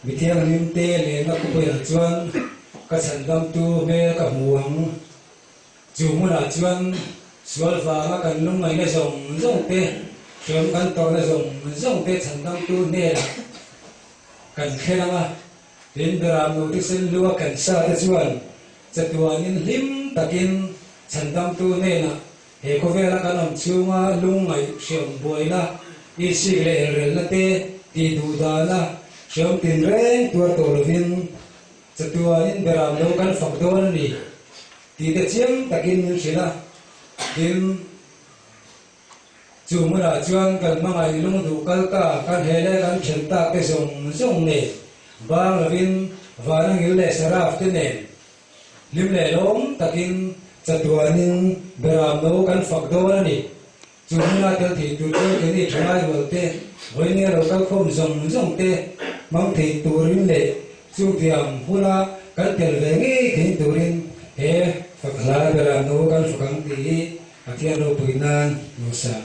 Mi thianghlim te lehna khawpaiah chuan ka chhandamtu hmel ka hmu ang. Chu hmunah chuan sual vanga kan lungngaihna zawng zawng te, hrem kan tawrhna zawng zawng te chhandamtu hnenah kan khelh ang a. Tin, Berap Nute Senlua Khansate chuan chatuanin hlim takin chhandamtu hnenah He khawvela kan awm chhunga lungngaih hreawm buaina, isik leh elrelna te, tih duh dana, hreawm tin reng tuar tawh lovin chatuan in beram lo kan fak dawn a ni tih te chiang takin min hrilh a. Tin, chu hmunah chuan kan hmangaih lung duh kal ta kan he leh kan then tak te zawng zawng nen, bang lovin vana ngil leh saraf te nen, Hlim lehlawm takin chatuanin Beram lo kan fak dawn a ni. Chu hmuna tel thei tur chuan keini thalai rual te, vawinia lo kal khawm zawng zawng te hmang thei turin leh chutiang huna kan tel ve ngei thei turin he fakhlai Beram lo kan fak ang tih hi Pathian ropui nan lo siam